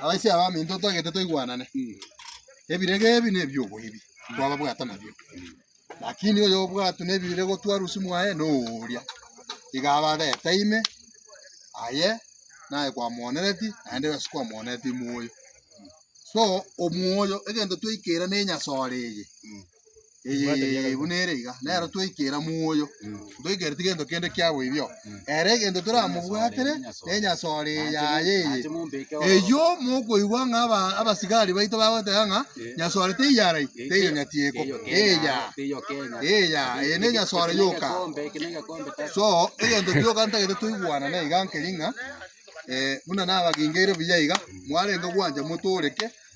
Abaisia abaminto togete toigwanane, ebirego ebi nebi'oboibi twababwata nabio, lakini oyobwatwe nebirego twarusio mwaye noria, iga abareta ime aye naye kwamoonereti naende ase kwamoonereti moyo. So omoyo egento twaikera ne enyasore eye. Ee, buna ere iga. Nero twaikera moyo. Toikereti gento kende kiabo ibio. Ere egento toramobwatere nenyasore yaye eye. Eyio mokoigwa ng'a aba abasigari baito bagoteba ng'a nyasore teiyarai, teiyonyati eko. Eya. Eya, eye nenyasore yoka. So, egento gioka ntagete toigwanane iga nkeri ng'a eh, buna nabagengeire buya iga, mwarenge gwancha motoreke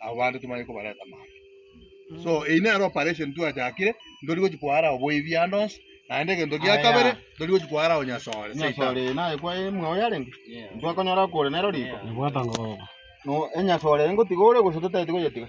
abo bande timanye kobareta maambia. So eyio nere operation twachakire, ntori gochi koara oboyie biande onsi, naende egento gia Aya. kabere, ntori gochi koara onyasore. Seitan. Enyasore eye naye kwa imwe oyo arenge. Ntwakonyora kore nero riko. Nabwate ngoro. No enyasore eye ngotiga ore gose totaeti goyetiga.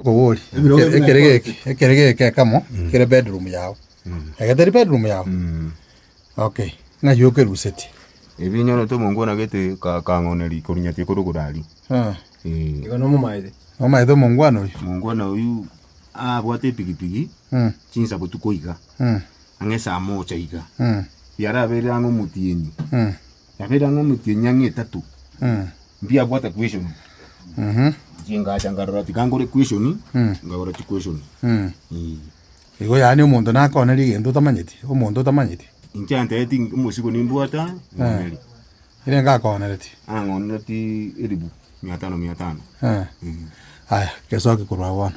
Akobori, ekere geke ekamo kere bedroom yao, ege teri bedroom yao? Okay, ng'a ki okerusetie? Ebi nyorete omonko onagete kang'oneri korunyatia kore ogoraria. Igo nomomaete. Nomomaete omongwana oyio. Omongwana oyio abwate epigipigi chinsa botuko iga, ang'e esaa mocha iga, yaraberire ang'e omotienyi. Yabeire ang'e omochie enyang'e etato, mbiabwate queshoni. Chingacha nkarora tikangore queshoni, nkagora chiqueshoni. Ee. Igo yaani omonto nakoonere egento otamanyeti, omonto otamanyeti. Inche antereti omosigo nimbwata, ng'oneri. Ere ngakoonereti. Ang'onereti elifu mia tano mia tano. Eh. Aya, gesoke korwa agwo bono.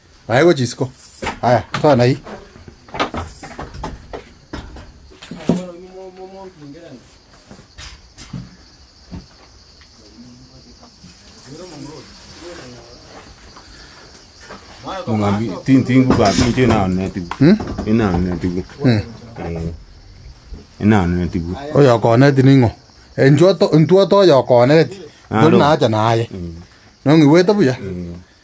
Aye gochia isiko. Aya, toa na eye. Mung'ambi tintingu ba tinche na ne tigu. Ina ne tigu. Ina ne tigu. Oyo okoneti ning'o. Enchwa to, ntwa to oyo okoneti. Tori Nalo. naacha naye. Nong'igwete buya.